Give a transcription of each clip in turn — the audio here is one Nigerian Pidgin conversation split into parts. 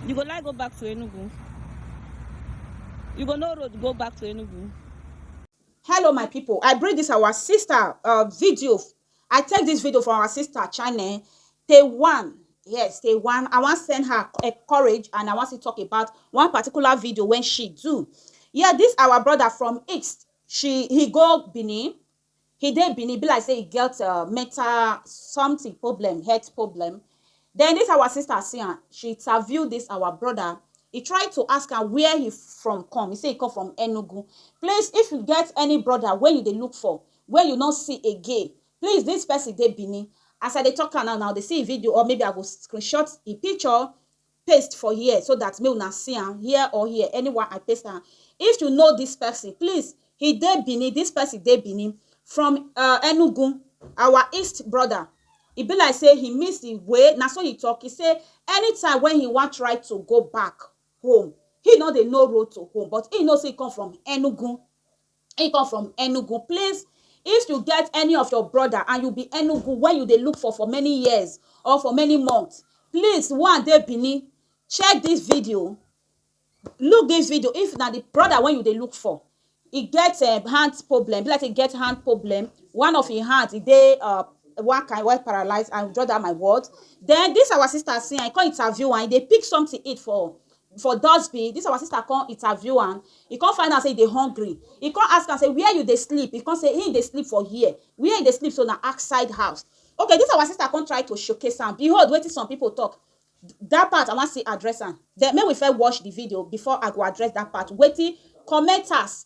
You go like go back to Enugu? You go no road go back to Enugu? Hello my people, I bring this our sister uh, video. I take this video from our sister channel, Taiwan. Yes, Taiwan. I want send her a eh, courage and I want to talk about one particular video when she do. Yeah, this our brother from East. She he go Benin He dey Benin, e be like say e get um mental something problem, health problem. Then this our sister see am, she interview this our brother, e try to ask am where he from come, he say he come from Enugu. Please if you get any brother wey you dey look for, wey you no see again, please this person dey Benin. As I dey talk am now, una go dey see e video or maybe I go screenshot e picture paste for here so that make una see am here or here anywhere I paste am if you know this person please he dey Benin this person dey Benin from uh, Enugu our east brother e be like say he miss the way na so he talk he say anytime when he wan try to go back home he no dey know road to home but he know say he come from Enugu He come from Enugu. Please, if you get any of your brother and you be Enugu wey you dey look for for many years or for many months, please one dey Benin, check this video, look this video if na the brother wey you dey look for e get um, hand problem, be like say e get hand problem, one of im hand e dey uh, one kind wey paralyze and draw that my word. Then this our sister see am, e come interview am, e dey pick something eat for for dustbin, dis our sister come interview am, e come find out sey e dey hungry, e come ask am sey where you dey sleep, e come sey im dey sleep for here, where e dey sleep so na outside house, okay dis our sister come try to showcase am, behold wetin some pipu talk, dat part I wan still address am, den make we first watch di video before I go address dat part, wetin commenters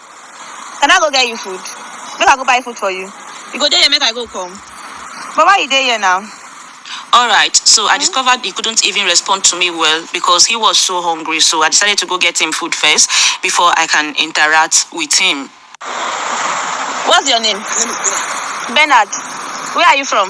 Can I go get you food? Make I go buy food for you? You go dey here make I go come? But why you dey here now? Alright, so I discovered he couldn't even respond to me well because he was so hungry so I decided to go get him food first before I can interact with him. What's your name? Bernard. Where are you from?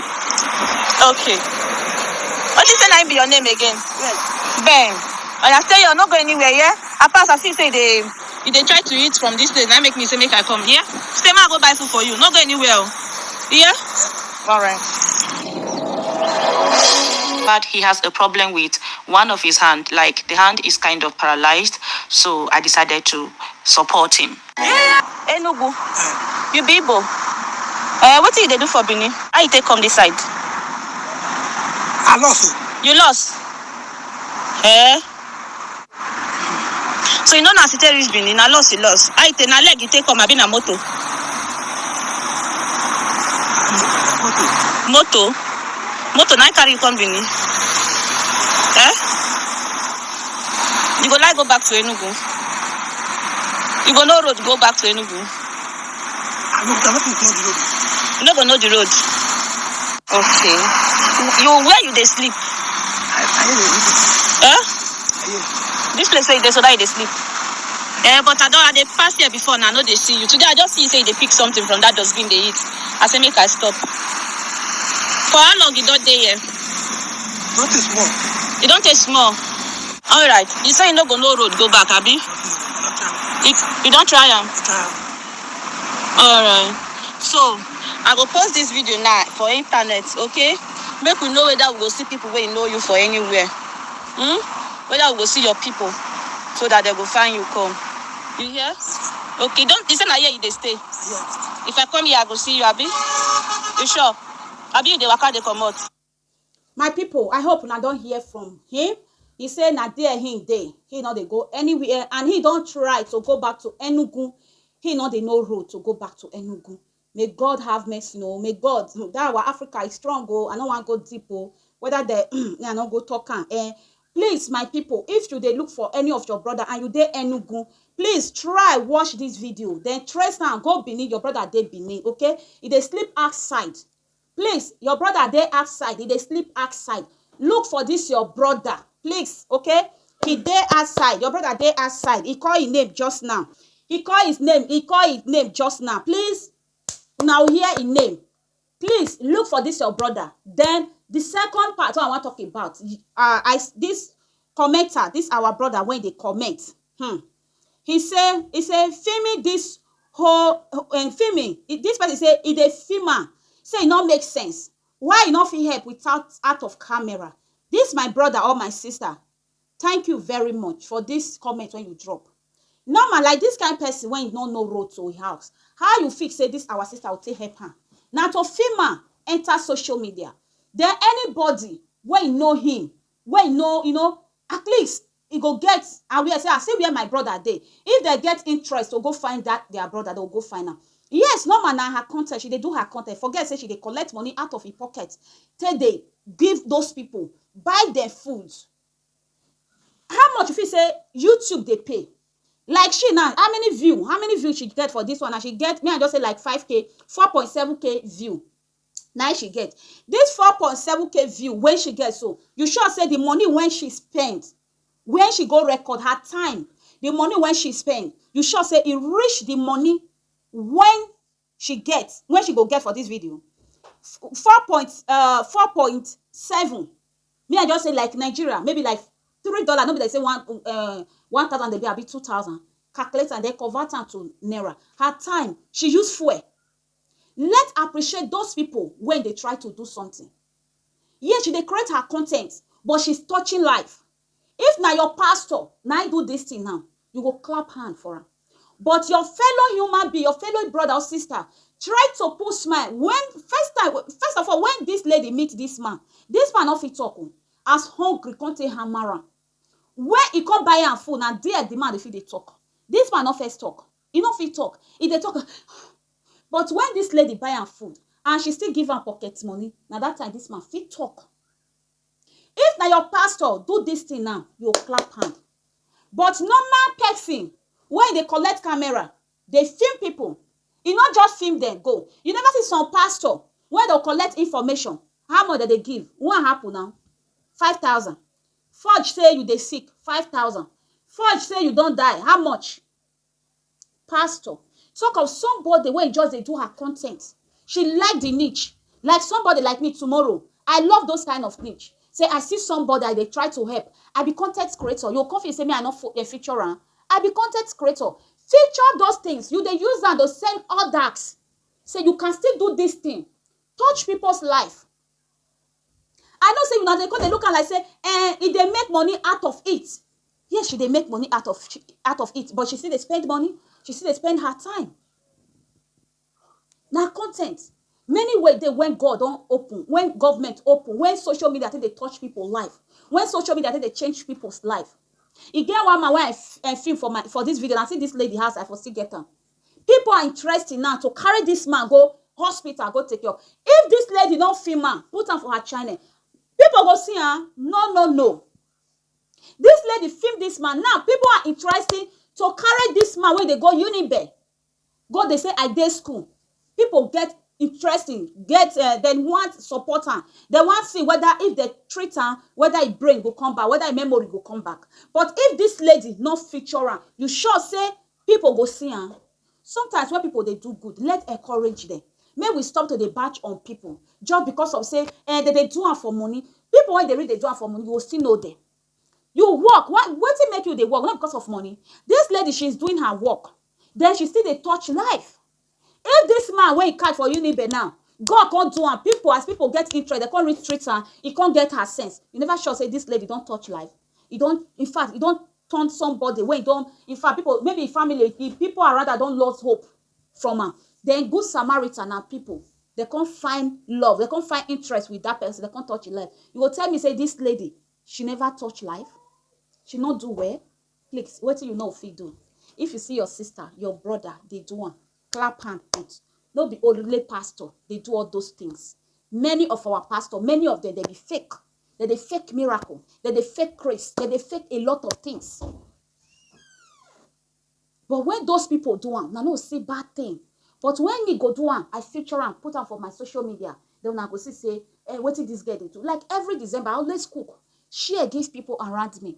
Okay. What you say na im be your name again? Ben. Oya stay here, no go anywhere, yeah? I pass, I see say you dey you dey try to eat from this place, na im make me say make I come, yeah? Stay ma I go buy food for you, no go anywhere o. Yeah? Alright. but he has a problem with one of his hand like the hand is kind of paralyzed so i decided to support him Enugu. You be Igbo? Eh, wetin you dey do for Benin? How you take come this side? I lost o. You lost? Eh? So you no know as you take reach Benin? Na loss you lost. How you take? Na leg you take come abi na moto? Moto. Moto? Moto na him carry you come Benin? Eh? You go like go back to Enugu? You go know road go back to Enugu? I know, but I no fit go the road. You no go know the road. Okay. You where you dey sleep? I I hear the road. Huh? I hear. This place where you dey so that you dey sleep. Eh, but I don I dey pass here before now, I no dey see you. Today I just see you say you dey pick something from that dustbin dey eat. I say make I stop. For how long you don dey here? Not a small. You don taste small. All right. You say you no go know road go back, abi? You, you don try am? All right. So, I go post this video now for internet, okay? Make we know whether we go see people wey know you for anywhere. Hmm? Whether we go see your people so that they go find you come. You hear? Okay, don't you say na here you dey stay? Yes. If I come here, I go see you, abi? You sure? Abi you dey waka dey comot? My pipo, I hope una don hear from him, he say na there him dey, he no dey go anywhere and he don try to go back to Enugu, he no dey know road to go back to Enugu. May God have mercy o, may God, um dat our Africa e strong o, I no wan go deep o, weda dem um me I no go talk am um. Please my pipo, if you dey look for any of your brother and you dey Enugu, please try watch dis video, den trace am go Benin, your brother dey Benin okay, e dey sleep outside. Please your brother dey outside e dey sleep outside look for this your brother please okay he dey outside your brother dey outside he call him name just now he call his name he call his name just now please una will hear him name please look for this your brother then the second part wey i wan talk about uh, i this commenter this our brother wey dey comment hmm he say he say filming this whole um filming this person say e dey film am say e no make sense why e no fit help without out of camera this my brother or my sister thank you very much for this comment wey you drop normal like this kind person wey e no know road to him house how you fit say this our sister go take help am na to film am enter social media then anybody wey e know him wey e know you know at least e go get aware say ah see where my brother dey if dem get interest to go find that their brother dem go go find am yes normal na her content she dey do her content forget say she dey collect money out of im pocket take dey give those people buy dem food how much you feel say YouTube dey pay like she now how many view how many view she get for this one and she get me I just say like 5k 4.7k view na im she get this four point seven k view wey she get so you sure say the money wey she spend where she go record her time the money wey she spend you sure say e reach the money when she get when she go get for this video four point uh four point seven me i just say like nigeria maybe like three dollar no be like say one uh one thousand dey be abi two thousand calculate am then convert am to naira her time she use fuel Let appreciate those people wey dey try to do something. Yes she dey create her content but she's touching life. If na your pastor na him do this thing now, you go clap hand for am. But your fellow human being, your fellow brother or sister try to put smile when first time, first of all when this lady meet this man, this man no fit talk o as hungry come take hammer am. Where e come buy am food na there the man dey fit dey talk. This man no first talk. E no fit talk, e dey talk but when this lady buy am food and she still give am pocket money, na that time this man fit talk. If na your pastor do this thing now, you go clap hand but normal person wey dey collect camera dey film people, e no just film dem go, you never see some pastor wey go collect information, how much dem dey give? One apple na five thousand, fudge say you dey sick, five thousand, fudge say you don die, how much? Pastor, sake of somebody wey just dey do her con ten t, she like di niche like somebody like me tomorrow I love those kind of niche say I see somebody I dey try to help I be con ten t creator you go con feel say me I no feature am I be con ten t creator feature those things you dey use am dey send others say you can still do this thing touch people's life. I know say una dey come dey look am like say eh, e dey make money out of it. Yes, she dey make money out of out of it, but she still dey spend money, she still dey spend her time. Na con ten t. Many way dey when God don open, when government open, when social media take dey touch pipu life, when social media take dey change pipus life. E get one man wey I I feel for my for dis video, na still dis lady house I for still get am. people are interested now to carry this man go hospital go take care of if this lady no fit man put am for her channel people go see am no no no this lady film this man now people are interested to carry this man wey dey go unibe go dey say i dey school people get interesting get uh, dem want support am dem want see whether if dem treat am whether im brain go come back whether im memory go come back but if this lady no feature am you sure say Pipo go see am. Sometimes wen pipo dey do good, let encourage dem. Make we stop to dey bash on pipo just because of say um dem dey do am for money. Pipo wey dey really dey do am for money, you go still know dem. You work, why wetin make you dey work? No be because of money? Dis lady, she is doing her work, den she still dey touch life. If this man wey he catch for Unibe now, God come do am, people as people get interest, they come reach treat am, he come get her sense. You never sure say this lady don touch life. He don, in fact, he don turn somebody wey don, in fact, people, maybe his family, his people around her don lost hope from am. Then good Samaritan and people, they come find love, they come find interest with that person, they come touch his life. You go tell me say this lady, she never touch life? She no do well? please wetin you no fit do if you see your sister your brother dey do am clap hand put no be only pastor dey do all those things many of our pastor many of them dey be fake dem dey fake miracle dem dey fake grace dem dey fake a lot of things but when those people do am na no see bad thing but when me go do am i feature am put am for my social media then una go see say eh, wetin this girl dey do like every december i always cook share give people around me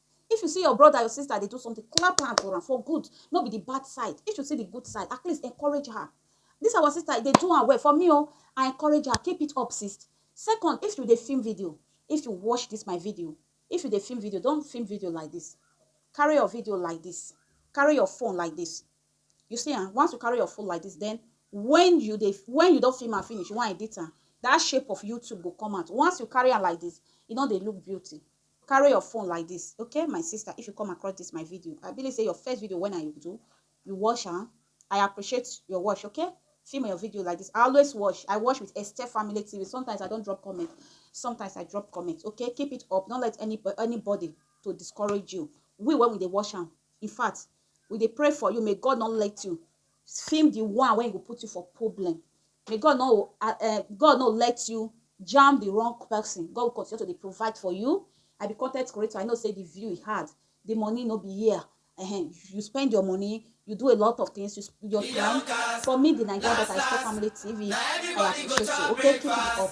If you see your brother, your sister dey do something, clap hand for am for good, no be the bad side. If you see the good side, at least encourage her. This our sister, e dey do am well. For me o, I encourage her, keep it up sis. Second, if you dey film video, if you watch this my video, if you dey film video, don't film video like this. Carry your video like this, carry your phone like this. You see am, once you carry your phone like this, then when you dey, when you don film am finish, you wan edit am, that shape of YouTube go come out. Once you carry am like this, e no dey look beauty. carry your phone like this okay my sister if you come across this my video i believe say your first video when i do you watch am i appreciate your watch okay film your video like this i always watch i watch with esther family tv sometimes i don't drop comment sometimes i drop comment okay keep it up don't let any anybody to discourage you we when we dey watch am in fact we dey pray for you may god not let you film the one wey go put you for problem may God no uh, God no let you jam the wrong person God will continue to dey provide for you I be content creator I know say the view is hard the money no be here uh-huh. you spend your money you do a lot of things you your time for me the Nigeria that I stay family TV I appreciate you okay keep it up.